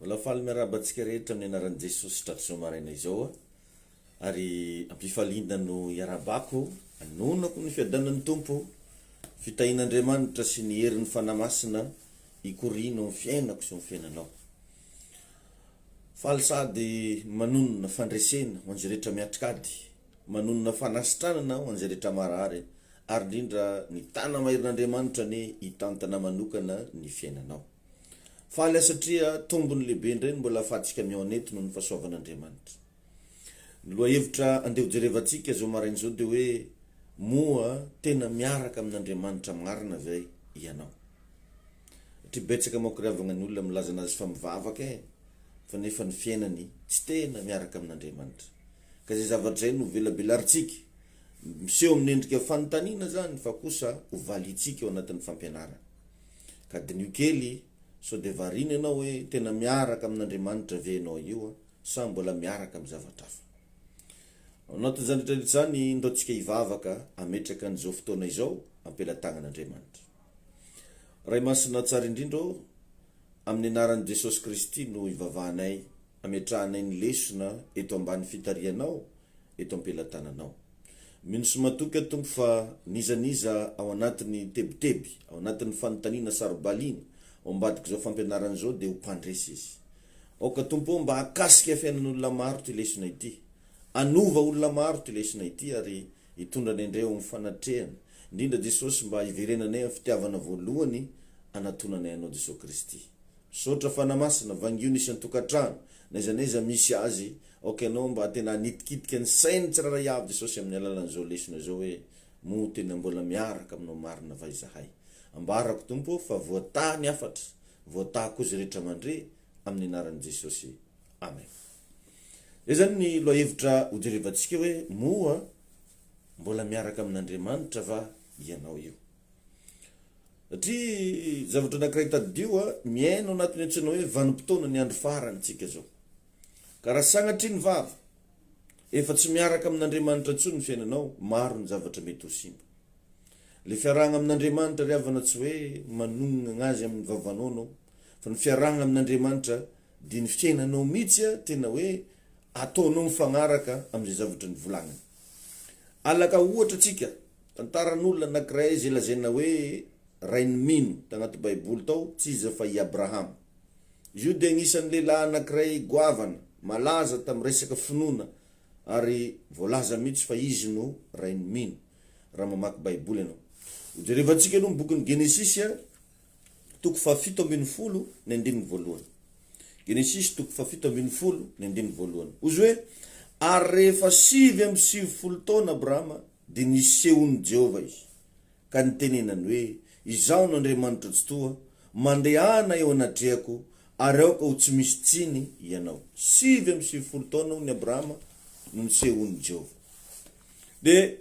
Mbola faly miarahaba antsika rehetra amin'ny anaran'i Jesosy hatratr'izao maraina izao aho ary am-pifaliana no iarahabako anonako ny fiadanan'ny Tompo, fitahian'Andriamanitra sy ny herin'ny Fanahy Masina hikoriana eo amin'ny fiainako sy eo amin'ny fiainanao. Faly sady manonona fandresena ho an'izay rehetra miatrik'ady, manonona fanasitranana ho an'izay rehetra marary ary indrindra ny tanana maherin'Andriamanitra anie hitantana manokana ny fiainanao. Faly aho satria tombony lehibe indray ny mbola ahafahantsika mihaona eto noho ny fahasoavan'Andriamanitra. Ny lohahevitra andeha hojerevantsika izao maraina izao dia hoe Moa tena miaraka amin'Andriamanitra marina ve ianao? Satria betsaka manko ry havagna ny olona milaza an'azy fa mivavaka e, fa nefa ny fiainany tsy tena miaraka amin'Andriamanitra. Ka izay zavatra izay no velabelarintsika. Miseho amin'ny endrika fanontaniana izany fa kosa ho valiantsika ao anatin'ny fampianarana. Ka diniho kely, sao dia variana ianao hoe tena miaraka amin'Andriamanitra ve ianao io sa mbola miaraka amin'ny zavatra hafa. Ao anatin'izany rehetrarehetra izany, ndao tsika hivavaka hametraka an'izao fotoana izao am-pelatanan'Andriamanitra. Ray Masina Tsara Indrindra ô, amin'ny anaran'i Jesosy Kristy no ivavahanay Ametrahanay ny lesona eto ambany fitarihanao, eto am-pelatananao. Mino sy matoky aho, Tompo, fa n'iza n'iza ao anatin'ny tebiteby, ao anatin'ny fanontaniana saro-baliana, ao ambadik'izao fampianarana izao, dia ho mpandresy izy. Aoka, Tompo ô, mba hakasika fiainan'olona maro ity lesona ity. Hanova olona maro ity lesona ity, ary hitondra anay indray ao amin'ny fanatrehana. Indrindra, Jesosy, mba hiverenanay amin'ny fitiavana voalohany hanatonanay Anao, Jesosy Kristy. Misaotra Fana Masina, vangio ny isan-tokantrano, n'aiza n'aiza misy azy, aoka ianao mba tena hanitikitika ny sain'ny tsirairay avy Jesosy amin'ny alalan'izao lesona izao hoe, Moa tena mbola miaraka aminao marina va izahay? Ambarako Tompo ô fa voataha ny hafatra, voataha koa izay rehetra mandre, amin'ny anaran'i Jesosy. Amen. Izay izany ny lohahevitra hojerevantsika hoe, Moa mbola miaraka amin'Andriamanitra va ianao io? Satria zavatra anankiray tadidio a, miaina ao anatin'ny antsoina hoe vanim-potoana ny andro farantsika izao. Ka raha sanatria ny vava, efa tsy miaraka amin'Andriamanitra intsony ny fiainanao, maro ny zavatra mety ho simba. Le fiarahana amin'Andriamanitra ry havana tsy hoe manonona azy amin'ny vavanao anao, fa ny fiarahana amin'Andriamanitra dia ny fiainanao mihitsy tena hoe ataonao mifagnaraka amin'izay zavatra nivolagnany. Alaka ohatra tsika, tantaran'olona anakiray izay lazaina hoe rain'i Mino, tagnaty baiboly tao, tsy iza fa i Abrahama. Izy io dia agnisan'ny lehilahy anakiray goavana, malaza tamin'ny resaka finoana ary voalaza mihitsy fa izy no rain'i Mino, raha mamaky baiboly ianao. Hojerevantsika aloha ny bokin'i Genesisy a. toko fahafito ambin'ny folo ny andininy voalohany. Genesisy toko fahafito ambin'ny folo ny andininy voalohany. Hozy hoe, Ary rehefa sivy amby sivifolo taona Abrahama, dia nisehon'i Jehovah izy, ka nitenenany hoe, Izaho no Andriamanitro Tsitoha, mandehana eo anatrehako, ary aoka ho tsy misy tsiny ianao. Sivy amby sivifolo taona hono i Abrahama no nisehon'i Jehovah. Dia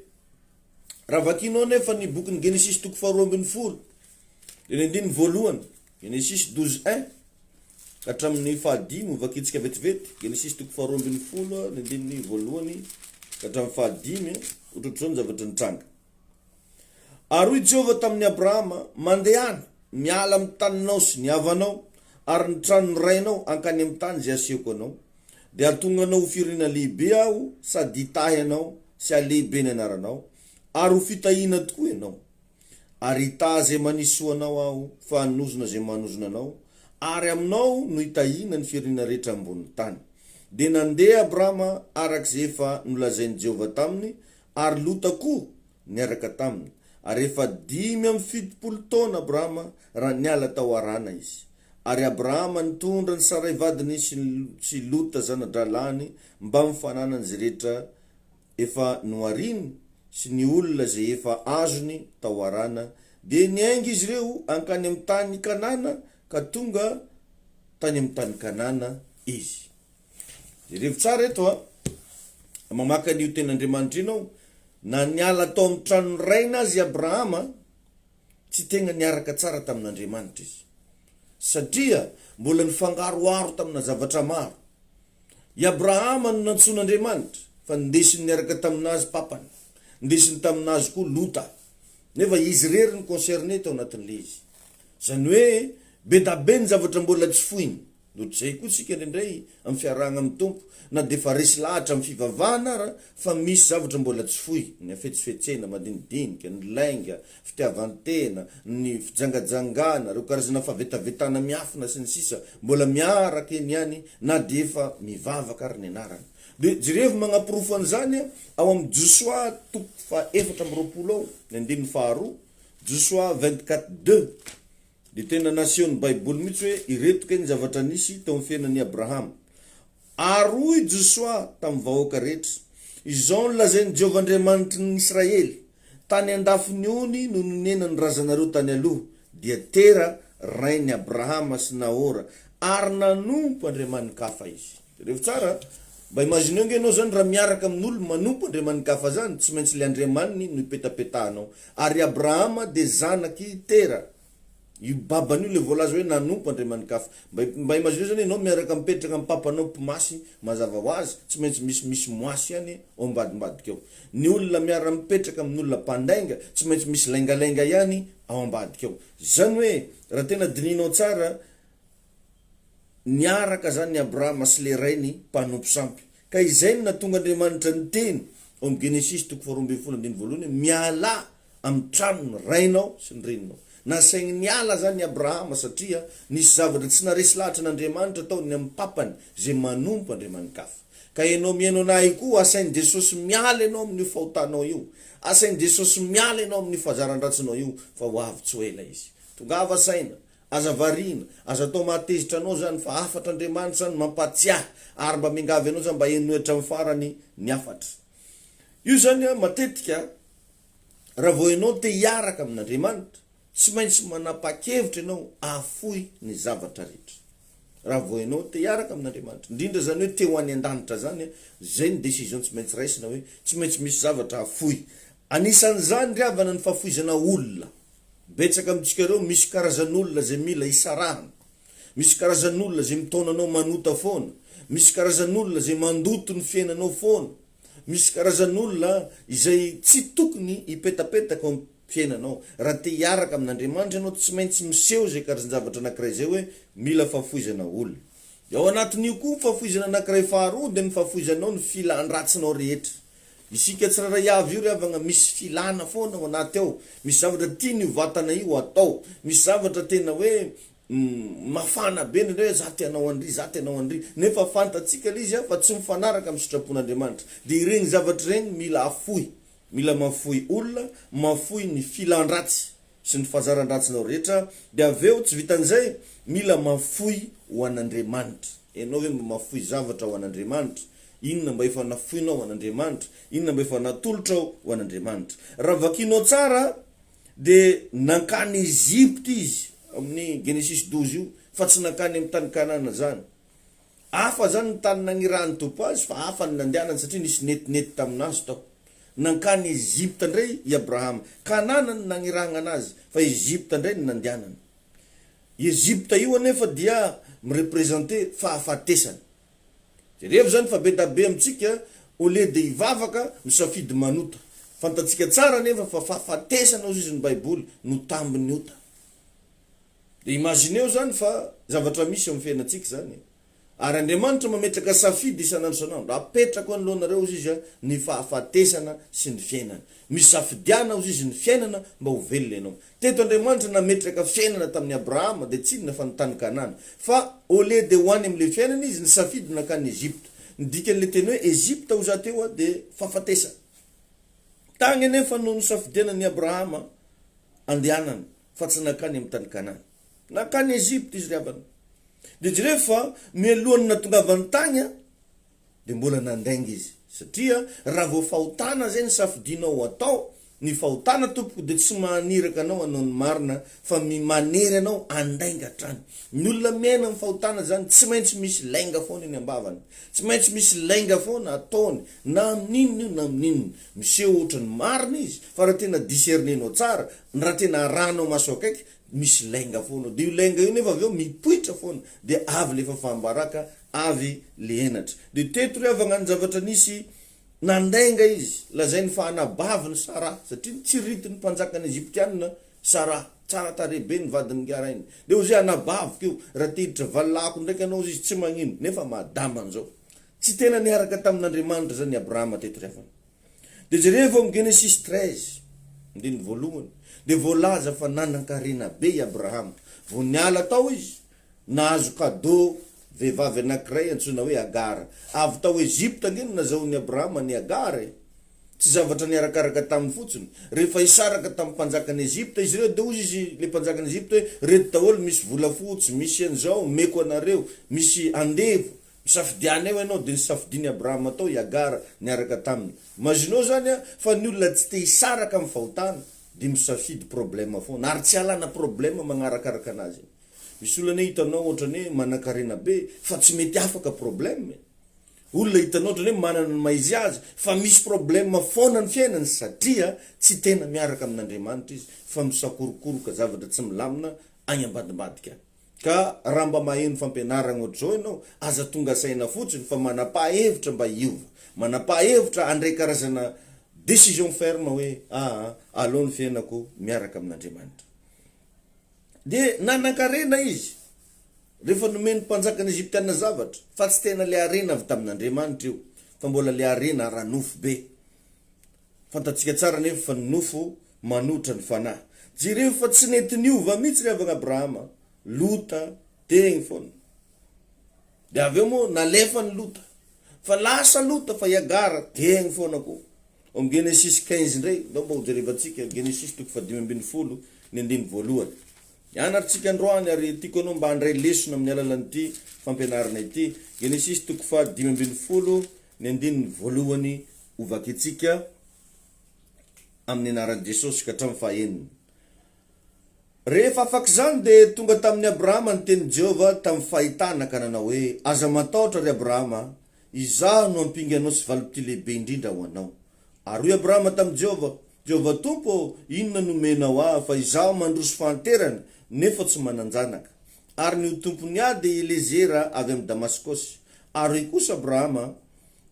Raha vakianao anefa ny bokin'ny Genesisy toko faharoa ambin'ny folo, dia ny andininy voalohany, Genesisy douze un, ka hatramin'ny fahadimy ho vakintsika vetivety, Genesisy toko faharoa ambin'ny folo, ny andininy voalohany, ka hatramin'ny fahadimy, ohatrohatr'izao ny zavatra nitranga. Ary hoy Jehovah tamin'i Abrahama, Mandehana, miala amin'ny taninao sy ny havanao, ary ny tranon'ny rainao hankany amin'ny tany izay asehoko anao, Dia hahatonga anao ho firenena lehibe Aho, sady hitahy anao sy hahalehibe ny anaranao, ary ho fitahiana tokoa ianao. Ary hitaha izay manisy soa anao Aho, fa hanozona izay manozona anao, ary aminao no hitahiana ny firenena rehetra ambonin'ny tany. Dia nandeha Abrama araka izay efa nolazain'i Jehovah taminy, ary Lota koa niaraka taminy. Ary efa dimy amby fitopolo taona Abrama raha niala tao Harana izy. Ary Abrahama nitondra an'i Saray vadiny sy sy Lota zana-drahalahiny mbamin'ny fananany izay rehetra efa nohariny sy ny olona izay efa azony tao Harana, dia niainga izy ireo hankany amin'ny tany Kanana ka tonga tany amin'ny tany Kanana izy. Jerevo tsara eto a! Mamaka an'io tenin'Andriamanitra io ianao, na niala tao amin'ny tranon'ny rainy aza i Abrahama, Tsy tegna niaraka tsara tamin'Andriamanitra izy, satria mbola nifangaroharo tamina zavatra maro. I Abrahama no nantsoin'Andriamanitra, fa nindesiny niaraka tamin'azy papany, nindesiny tamin'azy koa Lota. Nefa izy irery no concerné tao anatin'ilay izy. Izany hoe, be da be ny zavatra mbola tsy foiny. Noho izay koa isika indraindray amin'ny fiarahana amin'ny Tompo na dia efa resy lahatra amin'ny fivavahana ara fa misy zavatra mbola tsy foy, ny hafetsifetsena, madinidinika, ny lainga, fitiavan-tena, ny fijangajangana, ireo karazana fahavetavetana miafina sy ny sisa mbola miaraka eny ihany na dia efa mivavaka ary ny anarana. Dia jerevo manaporofo an'izany ao amin'ny Josoa toko faha efatra amby roapolo ao, ny andininy faharoa, Josoa vingt-quatre deux. Dia tena nasehon'ny Baiboly mihitsy hoe ireto kay ny zavatra nisy teo amin'ny fiainan'i Abrahama. Ary hoy i Josoa tamin'ny vahoaka rehetra, Izao no lazain'i Jehovah Andriamanitry ny Israely, Tany an-dafin'ny ony no nonenan'ny razanareo tany aloha, dia Tera, rain'i Abrahama sy Nahora, ary nanompo andriamani-kafa izy. Jereo tsara a! Mba imagineo nge enao zany raha miaraka amin'olo manompo Andriamanigafa zany, tsy maintsy le Andriamaniny no ipetapetahanao. Ary i Abrahama de zanaky Tera, io babany io le voalaza hoe nanompo Andriamanigafa. Mba mba imagineo zany enao miaraka mipetraka am papanao mpimasy, mazava hoazy tsy maintsy misy misy moasy ihany ao ambadimbadika ao. Ny olona miara mipetraka amin'olona mpandainga tsy maintsy misy laingalainga ihany ao ambadika ao. Zany hoe raha tena dininao tsara Niaraka izany i Abrahama sy ilay rainy mpanompo sampy. Ka izay no nahatonga Andriamanitra niteny ao amin'ny Genesisy toko faharoa ambin'ny folo andininy voalohany hoe, Mialà amin'ny tranon'ny rainao sy ny reninao. Nasainy niala izany i Abrahama satria nisy zavatra tsy naharesy lahatra an'Andriamanitra ataony ny amin'ny papany izay manompo andriamani-kafa. Ka ianao mihaino anà ahy koa, asain'i Jesosy miala ianao amin'io fahotanao io. Asain'i Jesosy miala ianao amin'ny fahazaran-dratsinao io fa ho avy tsy ho ela Izy. Tongava saina, Aza variana, aza atao mahatezitra anao izany fa hafatra Andriamanitra no mampahatsiahy ary mba miangavy anao izany mba henoy hatramin'ny farany ny hafatra. Io izany matetika raha vao ianao te hiaraka amin'Andriamanitra, tsy maintsy manapa-kevitra ianao hahafoy ny zavatra rehetra. Raha vao ianao te hiaraka amin'Andriamanitra, indrindra izany hoe te ho any an-danitra izany, izay no décision tsy maintsy raisina hoe tsy maintsy misy zavatra hahafoy Anisan'izany ry havana ny fahafoizana olona. Betsaka amintsika ireo misy karazan'olona izay mila hisarahana. Misy karazan'olona izay mitaona anao manota foana. Misy karazan'olona izay mandoto ny fiainanao foana. Misy karazan'olona izay tsy tokony hipetapetaka ao amin'ny fiainanao. Raha te hiaraka amin'Andriamanitra ianao, tsy maintsy miseho izay karzan-javatra anankiray izay hoe mila fahafoizana olona. Ao anatin'io koa ny fahafoizana anankiray faharoa dia ny fahafoizanao ny filan-dratsinao rehetra. Isika tsirairay avy io ry havagna misy filana foana ao anaty ao, misy zavatra tiany io vatana io atao, misy zavatra tena hoe mafana be indraindray hoe za te hanao an'iry, za te hanao an'iry, nefa fantatsika le izy an fa tsy mifanaraka amin'ny sitrapon'Andriamanitra, dia ireny zavatra ireny mila afoy, mila mafoy olona, mafoy ny filan-dratsy sy ny fazaran-dratsinao rehetra, dia avy eo tsy vitan'izay, mila mafoy ho an'Andriamanitra. Ianao ve mba mafoy zavatra ho an'Andriamanitra? Inona mba efa nafoinao ho an'Andriamanitra? Inona mba efa natolotrao ho an'Andriamanitra? Raha vakianao tsara dia nankany Egypta izy, amin'ny Genesisy douze io, fa tsy nankany amin'ny tany Kanana izany. Hafa izany ny tany nagnirahan'ny Tompo azy fa hafa ny nandehanany satria nisy netinety tamin'azy tao. Nankany Egypta indray i Abrahama. Kanana no nagnirahagna anazy fa Egypta indray no nandehanany. Io Egypta io anefa dia mi-representer fahafatesana. Jerevo izany fa be da be amintsika au lieu de hivavaka misafidy manota. Fantatsika tsara anefa fa fahafatesana hozy izy ny Baiboly no tambin'ny ota. Dia imagineo izany fa zavatra misy eo amin'ny fiainantsika izany e! Ary Andriamanitra mametraka safidy isan'andro isan'andro. Apetrako anoloanareo, hozy Izy, ny fahafatesana sy ny fiainana. Misafidiana, hozy Izy, ny fiainana mba ho velona ianao. Teto Andriamanitra nametraka fiainana tamin'i Abrahama, dia tsy inona fa ny tany Kanana. Fa au lieu dia ho any amin'ilay fiainana izy, nisafidy nankany Egypta. Ny dikan'ilay teny hoe Egypta, hoza, teo dia fahafatesana. Tany anefa no nisafidianan'i Abrahama andehanana. fa tsy nankany amin'ny tany Kanana. Nankany Egypta izy ry havana. Dia jereo fa mialohan'ny natongavany tany dia mbola nandainga izy. Satria raha vao fahotana izay ny safidianao ho atao, ny fahotana tompoko dia tsy mahaniraka anao hanao ny marina fa manery anao handainga hatrany. Ny olona miaina amin'ny fahotana izany tsy maintsy misy lainga foana eny am-bavany. Tsy maintsy misy lainga foana ataony na amin'inona io na amin'inona. Miseho ohatran'ny marina izy fa raha tena discernenao tsara Ny raha tena arahanao maso akaiky misy lainga foana ao dia io lainga io nefa avy eo mipoitra foana dia avy lefa fambaraka avy le henatra dia teto ry havagna ny zavatra nisy nandainga izy lazainy fa anabavy ny Sarah satria nitsirity ny mpanjaka ny Egyptianina Sarah tsara tarehy be ny vadiny ngarainy dia ozy anabaviko io raha tehiditra valilahiko ndraiky anao ozy izy tsy magnino nefa madama nzao tsy tena niaraka tamin'Andriamanitra zany Abrahama teto ry havagna. Dia jereo ao amin'ny Genesisy treize, andininy voalohany, dia voalaza fa nanan-karena be i Abrahama. Vao niala tao izy, nahazo kadô vehivavy anankiray antsoina hoe Agara. Avy tao Ejipta ange no nazahoan'i Abrahama an'i Agara e! Tsy zavatra niarakaraka taminy fotsiny. Rehefa hisaraka tamin'ny mpanjakan'i Ejipta izy ireo, dia hoy izy, ilay mpanjakan'i Ejipta hoe, Reto daholo, misy volafotsy, misy an'izao, omeko anareo, misy andevo, Misafidia anay hoy ianao dia nisafidian'i Abrahama tao i Hagara niaraka taminy. Imaginao izany an, fa ny olona tsy te hisaraka amin'ny fahotana dia misafidy problème foana ary tsy alana problème magnarakaraka anazy e. Misy olona anie hitanao ohatrany hoe manankarena be fa tsy mety afaka problème e. Olona hitanao ohatrany hoe manana ny mahaizy azy fa misy problème foana ny fiainany satria tsy tena miaraka amin'Andriamanitra izy fa misakorokoroka zavatra tsy milamina agny ambadimbadika agny. Ka raha mba maheno fampianaragna ohatr'izao ianao, aza tonga saina fotsiny fa manam-paha-hevitra mba hiova. Manam-paha-hevitra handray karazana décision ferme hoe aa aleo ny fiainako miaraka amin'Andriamanitra. Dia nanan-karena izy rehefa nomen'ny mpanjakan'ny Egyptiana zavatra, fa tsy tena ilay harena avy tamin'Andriamanitra io, fa mbola ilay harena ara-nofo be. Fantatsika tsara anefa fa ny nofo manohitra ny fanahy. Jereo fa tsy nety niova mihitsy ry havana Abrahama, Lota, teny foana. Dia avy eo moa nalefan'i Lota. Fa lasa Lota fa i Agara teny foana koa. Ao amin'ny Genesisy quinze indray, ndao mba hojerevantsika, Genesisy toko fahadimy ambin'ny folo, ny andininy voalohany. Ianarintsika androany ary tiako ianao mba handray lesona amin'ny alalan'ity fampianarana ity, Genesisy toko faha dimy ambin'ny folo, Ny andininy voalohany hovakitsika amin'ny anaran'i Jesosy ka hatramin'ny fahaenina. Rehefa afak'izany dia tonga tamin'i Abrahama ny tenin'i Jehovah tamin'ny fahitana ka nanao hoe, Aza matahotra, ry Abrahama, Izaho no ampinganao sy valipitia lehibe indrindra ho anao. Ary hoy Abrahama tamin'i Jehovah, Jehovah Tompo ô, inona no omenao ahy fa izaho mandroso fahanterana nefa tsy manan-janaka? Ary ny ho tompon'ny ahy dia Elezera avy amin'i Damaskosy. Ary hoy kosa Abrahama,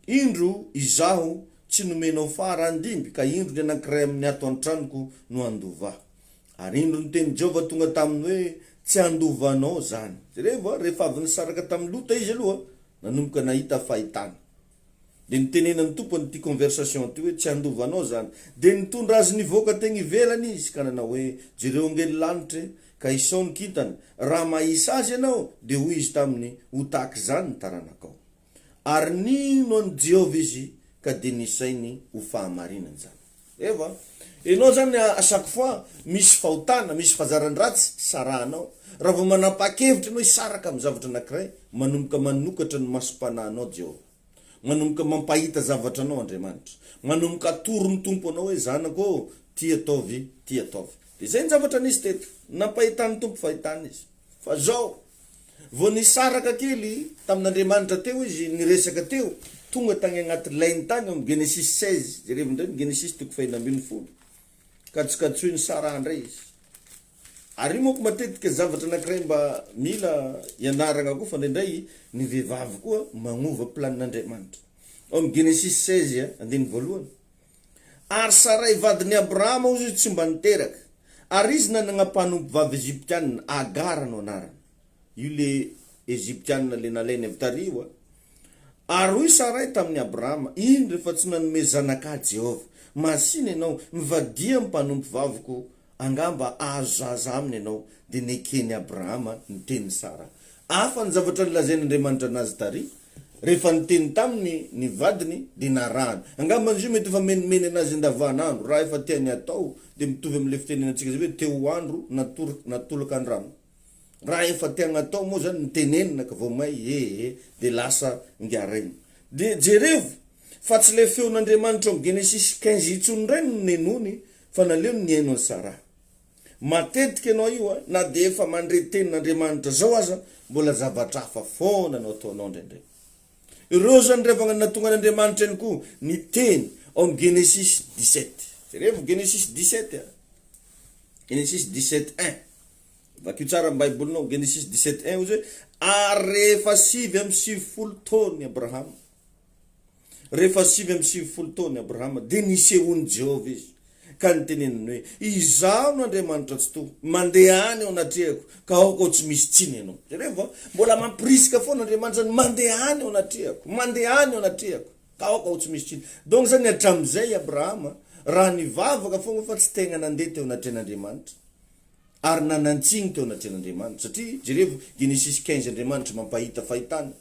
Indro, izaho tsy nomenao faharandimby, ka indro ny anankiray amin'ny ato an-tranoko no handova. Ary indro ny tenin'i Jehovah tonga taminy hoe, Tsy handova anao izany. Jerevo, rehefa avy nisaraka tamin'i Lota izy aloha, nanomboka nahita fahitana. Dia nitenenan'ny Tompo an'ity conversation ity hoe, Tsy handova anao izany. Dia nitondra azy nivoaka teny ivelany Izy, ka nanao hoe, Jereo angely lanitra e! Ka isao ny kintana. Raha mahisa azy ianao, dia hoy Izy taminy, Ho tahaka izany ny taranakao. Ary nino an'i Jehovah izy, ka dia nisainy ho fahamarinana izany. Ewa, enao zany a chaque fois misy fahotana, misy fazarany ratsy sarahanao, raha vao manapaha-kevitra enao hisaraka amin'ny zavatra anakiray, manomboka manokatra ny masom-panahinao Jehovah. Manomboka mampahita zavatra anao Andriamanitra. Manomboka atoro ny Tompo anao hoe, zanako ô, ty ataovy, ty ataovy. Dia izay ny zavatra nisy teto. Nampahitan'ny Tompo fahitana izy. Fa zao, Vao nisaraka kely tamin'Andriamanitra teo izy, niresaka teo, tonga tany agnaty lainy tany ao am Genesis seize, jerevo indray ny Genesis toko fahena ambin'ny folo, kajikajitsoin'i Saraha indray izy. Ary io manko matetika zavatra anankiray mba mila ianaragna koa fa indraindray ny vehivavy koa magnova planin'Andriamanitra. Ao am Genesis seize andininy voalohany. Ary Saray vadin'i Abrahama hozy tsy mba niteraka, ary izy nanagna mpanompovavy Egyptianina, Agara no anarany. Io le Egyptianina le nalainy avy tary io a. Ary hoy Saray tamin'i Abrahama, Indro, efa tsy nanome zanak'ahy Jehovah. Masìna ianao, mivadiha amin'ny mpanompovaviko Angamba azo zaza aminy ianao, dia neken'i Abrahama ny tenin'i Sara. Hafa ny zavatra nolazain'Andriamanitra an'azy tary. Rehefa niteny taminy ny vadiny, dia narahany. Angamba izy io mety efa menimeny an'azy andavanandro. Raha efa tiany hatao, dia mitovy amin'ilay fitenenantsika izay hoe te ho andro natolaka ny rano. Raha efa te agnatao moa zany ny tenenina ka vao may ee dia lasa ngaraina. Dia jerevo fa tsy ilay feon'Andriamanitra ao Genesisy quinze intsony indray no nenony fa naleony nihaino an'i Sarah. Matetika ianao io a, na dia efa mandre tenin'Andriamanitra zao aza mbola zavatra hafa foana no ataonao indraindray. Ireo zany ry havagna no nahatonga an'Andriamanitra ihany koa niteny ao amin'ny Genesisy dix-sept. Jerevo Genesisy dix-sept a, Genesisy dix-sept un. Vakio tsara ny Baibolinao, Genesis dix-sept un, hoy izy hoe, Ary rehefa sivy amby sivifolo taona i Abrahama, rehefa sivy amby sivifolo taona i Abrahama, dia nisehoan'i Jehovah izy, ka niteneniny hoe, Izaho no Andriamanitra Tsitoha, mandeha any eo anatrehako, ka aoka ho tsy misy tsiny ianao. Jereo va? Mbola mampirisika foana Andriamanitra ny mandeha any eo anatrehako, mandeha any eo anatrehako, ka aoka ho tsy misy tsiny. Donc izany hatramin'izay i Abrahama, raha nivavaka foana fa tsy tegna nandeha teo anatrehan'Andriamanitra, ary nanantsiny teo anatrehan'Andriamanitra, satria jerevo Genesis quinze Andriamanitra mampahita fahitana,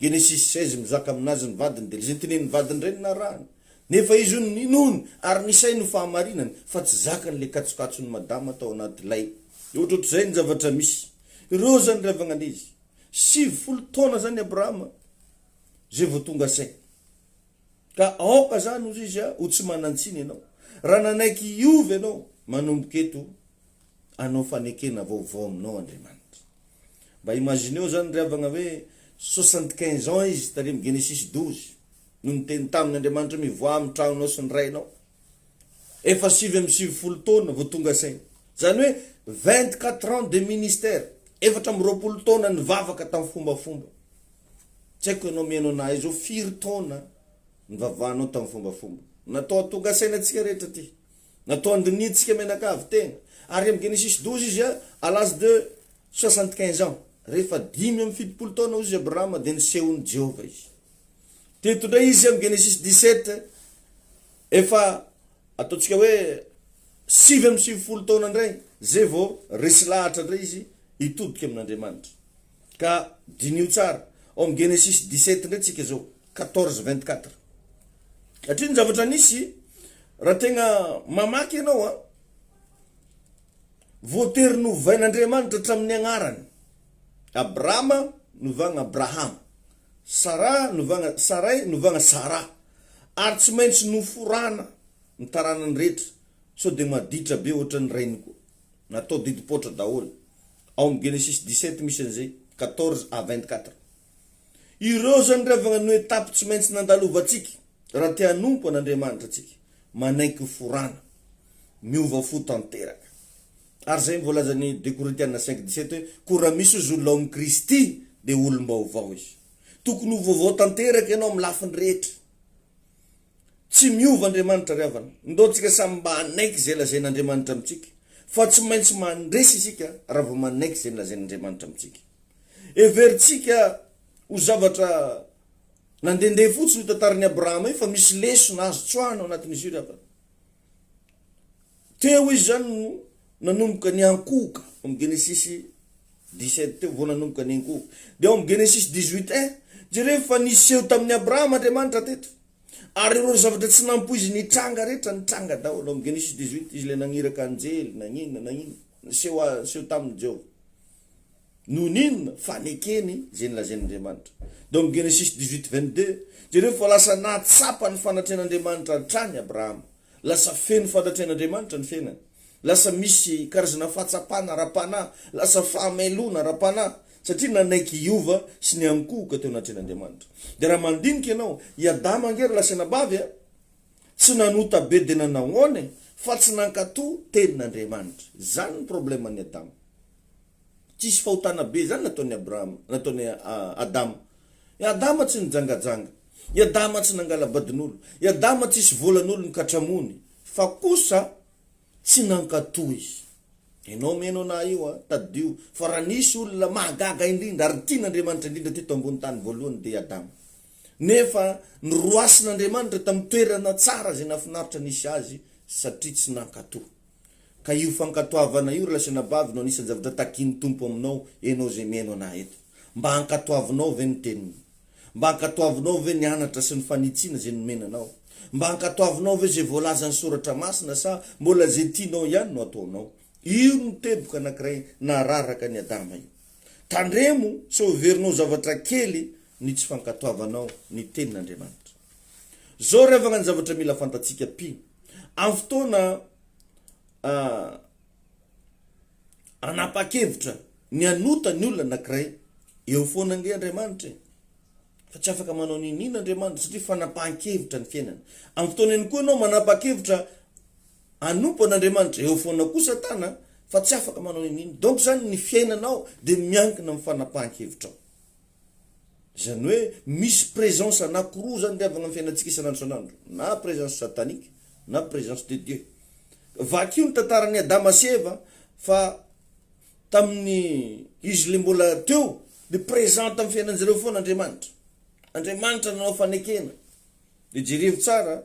Genesis seize mizaka aminazy ny vadiny dia izay tenenin'ny vadiny indray no narahany, nefa izy hono ninoany ary ny sainy ho fahamarinany fa tsy zakany ilay katsokatson'i Madama tao anatilay ohatrohatr'izay ny zavatra misy, ireo izany ry havagna andezy, sivifolo taona izany Abrahama izay vao tonga saina. Ka aoka zany ozy izy a ho tsy manantsiny ianao raha nanaiky hiova ianao manomboka eto anao fanekena vaovao aminao Andriamanitra. Mba imagineo zany ry havagna hoe soixante quinze ans izy tary am Genesis douze no niteny taminy Andriamanitra hoe mivoaha am tragnonao sy ny rainao. Efa sivy amby sivifolo taona vao tonga saina. Zany hoe vingt quatre ans de ministère, efatra amby roapolo taona nivavaka tam fombafomba. Tsy haiko ianao mihaino anah izao firy taona nivavahanao tamin'ny fombafomba. Natao hatonga saina antsika rehetra ity. Natao handinihintsika mianakavy tena. Ary amin'ny Genesis douze izy a, à l'âge de soixante quinze ans, rehefa dimy amby fitopolo taona hoy izy Abrahama dia nisehoan'i Jehovah izy. Teto indray izy amin'ny Genesis dix sept efa ataontsika hoe sivy amby sivifolo taona indray, izay vao resy lahatra indray izy hitodika amin'Andriamanitra. Ka diniho tsara, ao amin'ny Genesisy dix-sept indray tsika izao, quatorze vingt-quatre. Hatria ny zavatra nisy, raha tegna mamaky ianao an, voatery novain'Andriamanitra hatramin'ny agnarany, Abrama novagna Abrahama, Sara novagna Saray novagna Sara, ary tsy maintsy noforana ny taranany rehetra, sao dia maditra be ohatran'ny rainy koa, natao didim-poatra daholo. Ao amin'ny Genesisy dix-sept misy an'izay, quatorze à vingt-quatre. Ireo izany ry havana no étapes tsy maintsy nandalovantsika raha te hanompo an'Andriamanitra antsika. Manaiky ho forana, miova fo tanteraka. Ary izay no voalazan'i deux Korintiana cinq dix-sept hoe, koa raha misy ozy olona ao amin'i Kristy dia olom-baovao izy. Tokony ho vaovao tanteraka ianao amin'ny lafiny rehetra. Tsy miova Andriamanitra ry havana. Ndao tsika samy mba hanaiky izay lazain' Andriamanitra amintsika fa tsy maintsy mandresy isika raha vao manaiky izay nolazain' Andriamanitra amintsika. Heverintsika ho zavatra nandehandeha fotsiny io tantaran' i Abrahama io fa misy lesona azo tsoahina ao anatin' izy io ry havana. Teo izy zany no nanomboka niankohoka, ao amin'ny Genesisy 17 teo vao nanomboka niankohoka. Dia ao amin'ny Genesisy 18 un, jereo fa niseho tamin'i Abrahama Andriamanitra teto. Ary ireo zavatra tsy nampoiziny hitranga rehetra nitranga daholo. Ao amin'ny Genesisy 18, izy ilay naniraka anjely, naninona, naninona, niseho, niseho taminy Jehovah. Noho ny inona? Fa nekeny izay nolazain'Andriamanitra. Dom Genesis dix-huit vingt-deux, jereo fa lasa nahatsapa ny fanatrehan'Andriamanitra hatrany Abrahama. Lasa feno fanatrehan'Andriamanitra ny fiainany. Lasa misy karazana fahatsapana ara-panahy, lasa fahamailoana ara-panahy, satria nanaiky hiova sy niankohoka teo anatrehan'Andriamanitra. Dia raha mandinika ianao, i Adama ange ary lasa nabavy a! Tsy nanota be dia nanao ahoana e! Fa tsy nankato tenin'Andriamanitra. Izany ny probleman'i Adama. Tsisy fahotana be zany nataon'i Abrahama, nataon'i Adama. I Adama tsy nijangajanga, i Adama tsy nangala-badin'olo, i Adama tsisy volan'olo nikatramoany, fa kosa tsy nankatò izy. Enao mino anah io an, tadidio fa raha nisy olona mahagaga indrindra ary tian'Andriamanitra indrindra teto ambony tany voalohany dia i Adama. Nefa noroasin'Andriamanitra tamin'ny toerana tsara izay nahafinaritra nisy azy satria tsy nankatò. Ka io fankatoavana io ry lahy sy anabavy no anisan'ny zavatra takian'ny Tompo aminao ianao izay mihaino anah eto. Mba hankatoavinao ve ny Teniny? Mba hankatoavinao ve ny anatra sy ny fanitsiana izay nomena anao? Mba hankatoavinao ve izay voalazan'ny Soratra Masina sa mbola izay tianao ihany no ataonao? Io no teboka anankiray nararaka an'i Adama io. Tandremo sao heverinao zavatra kely ny tsy fankatoavanao ny Tenin'Andriamanitra. Zao revagna ny zavatra mila fantatsika pi am fotoana anapakevitra ny anota ny olona anakiray eo foana ange Andriamanitra e. Fa tsy afaka manao niniana Andriamanitra satria fanapahan-kevitra ny fiainana. Am fotoana eny koa anao manapakevitra anompo an'Andriamanitra eo foana koa Satana fa tsy afaka manao niniana. Donc zany ny fiainanao de miankina am fanapahan-kevitrao. Izany hoe misy présence anankiroa izany ry havana amin'ny fiainantsika isan'andro isan'andro, na présence satanique na présence de Dieu. Vakio ny tantaran'i Adama sy Eva fa tamin'ny izy ilay mbola teo dia présent tamin'ny fiainan'izy ireo foana Andriamanitra. Andriamanitra nanao fanekena. Dia jerevo tsara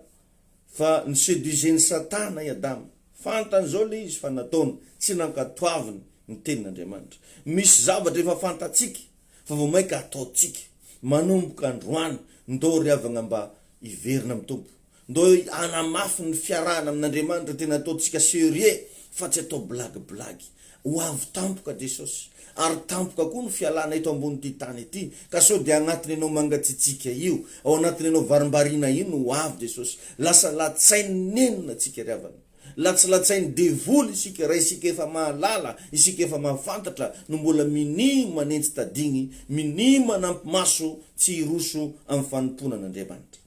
Fa ni seduisait ny satana i Adama. Fantany izao ilay izy fa nataony, tsy nankatoaviny ny tenin'Andriamanitra. Misy zavatra efa fantatsika fa vao mainka hataontsika. Manomboka androany, ndao ry havagna mba hiverina amin'ny Tompo. Ndao hanamafy ny fiarahana amin'Andriamanitra tena ataontsika serieux fa tsy atao blagy blagy. Ho avy tampoka Jesosy, ary tampoka koa ny fialana eto ambonin'ity tany ity, ka sao dia anatiny anao mangatsiatsiaka io, ao anatiny anao varimbariana io no ho avy Jesosy. Lasa latsain'ny nenina tsika ry havana. Latsilatsain'ny devoly isika, raha isika efa mahalala, isika efa mahafantatra no mbola minia manenjy tadigny, minia manampy maso tsy hiroso amin'ny fanompoana an'Andriamanitra.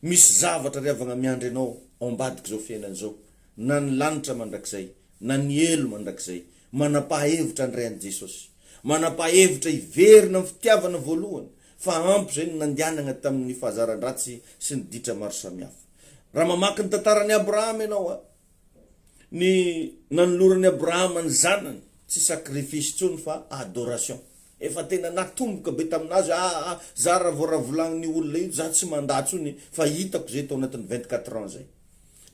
Misy zavatra ry havagna miandry anao ao ambadik'izao fiainana izao. na ny lanitra mandrakizay, na ny helo mandrakizay. Manam-pahahevitra handray an'i Jesosy. Manam-pahahevitra hiverina amin'ny fitiavana voalohany, fa ampy izay no nandianagna tamin'ny fahazaran-dratsy sy ny ditra maro samihafa. Raha mamaky ny tantaran'i Abrahama ianao, ny nanoloran'i Abrahama ny zanany, tsy sacrifice intsony fa adoration. Efa tena natomboka be tamin'azy hoe, aa, za raha vao ravolagnin'io olona io, za tsy mandà intsony fa hitako izay tao anatin'ny vingt-quatre ans izay.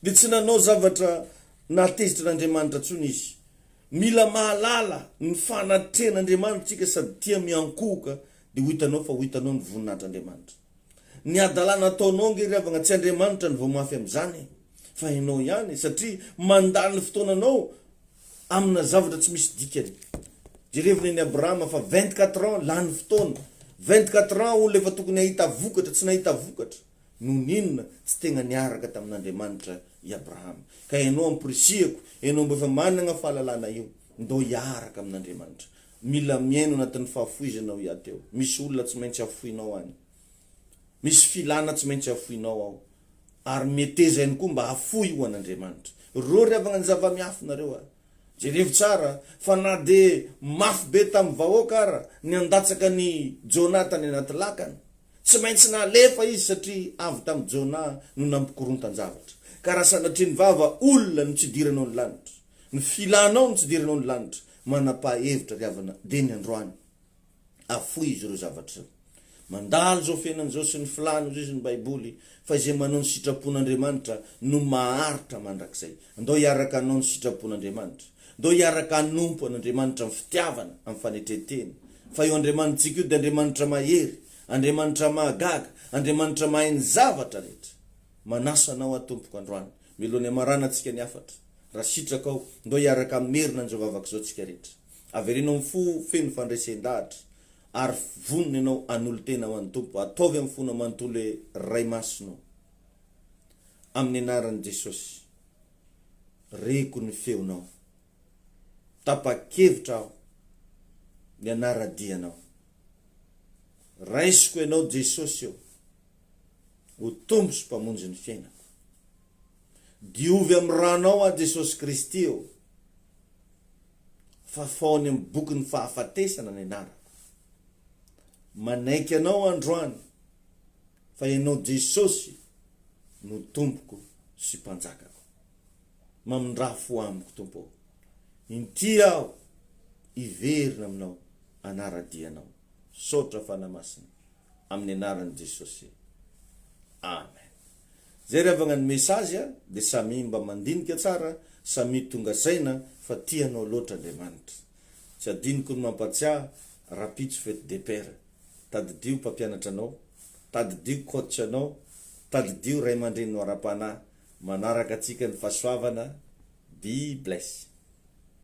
dia tsy nanao zavatra nahatezitr'Andriamanitra intsony izy. Mila mahalala ny fanatrehan'Andriamanitra isika sady tia miankohoka dia ho hitanao fa ho hitanao ny voninahitr'Andriamanitra. Ny hadalana ataonao ange ry havagna tsy Andriamanitra no vao mafy amin'izany e! fa ianao ihany satria mandany fotoananao amina zavatra tsy misy dikany. Jerevy nen'i Abrahama fa vingt-quatre ans lany fotoana, vingt-quatre ans olona efa tokony hahita vokatra tsy nahita vokatra. Noho ny inona tsy tegna niaraka tamin'Andriamanitra i Abrahama? Ka ianao amporisihako, ianao mbo efa managna fahalalana io, ndao hiaraka amin'Andriamanitra. Mila miaino anatin'ny fahafoizana ao iaty ao. Misy olona tsy maintsy hafoinao any. Misy filana tsy maintsy hafoinao ao. Ary meteza ihany koa mba hafoy ho an'Andriamanitra. Rô ry havagna ny zavamiafy nareo a! Jerevo tsara fa na dia mafy be tamin'ny vahoaka ara ny handatsaka an'i Jona tany anaty lakana, Tsy maintsy nalefa izy satria avy tamin'i Jona no nampikorontan-javatra. Ka raha sanatria ny vava olona no tsy idiranao ny lanitra, ny filanao no tsy idiranao ny lanitra, manam-paha-hevitra ry havana dia ny androany. Afoizo ireo zavatra ireo. Mandalo izao fiainana izao sy ny filany hozizy ny Baiboly fa izay manao ny sitrapon'Andriamanitra no maharitra mandrakizay. Andao hiaraka hanao ny sitrapon'Andriamanitra. Ndao hiaraka hanompo an' Andriamanitra amin'ny fitiavana, amin'ny fanetren-tena. Fa io Andriamanitsika io dia Andriamanitra mahery, Andriamanitra mahagaga, Andriamanitra mahay ny zavatra rehetra. Manasa anao aho, Tompoko, androany, mialoha ny hamaranantsika ny hafatra, raha sitrakao, ndao hiaraka hamerina an'izao vavaka izao tsika rehetra. Avereno amin'ny fo feno fandresen-dahatra, ary vonona ianao hanolo-tena ho an'ny Tompo. Ataovy amin'ny fonao manontolo hoe, Ray Masina ô. Amin'ny anaran'i Jesosy. Reko ny feonao. Tapa-kevitra aho ny hanara-dia anao. Raisiko ianao Jesosy ô, ho Tompo sy Mpamonjy ny fiainako. Diovy amin'ny ranao aho Jesosy Kristy ô, fafao any amin'ny bokin'ny fahafatesana ny anarako. Manaiky anao androany fa ianao Jesosy no Tompoko sy Mpanjakako. mamindrà fo amiko Tompo ô! Inty aho hiverina aminao hanara-dia anao. Misaotra Fanahy Masina amin'ny anaran'i Jesosy. Amen. Zay ry havagna ny message a, de samia mba mandinika tsara, samia tonga saina fa tia anao loatra Andriamanitra. Tsy adinoko ny mampatsiahy rapitso fety de père, tadidio mpampianatra anao, tadidio coach anao, tadidio ray aman-dreninao ara-panahy Manaraka antsika ny fahasoavana, be blessed.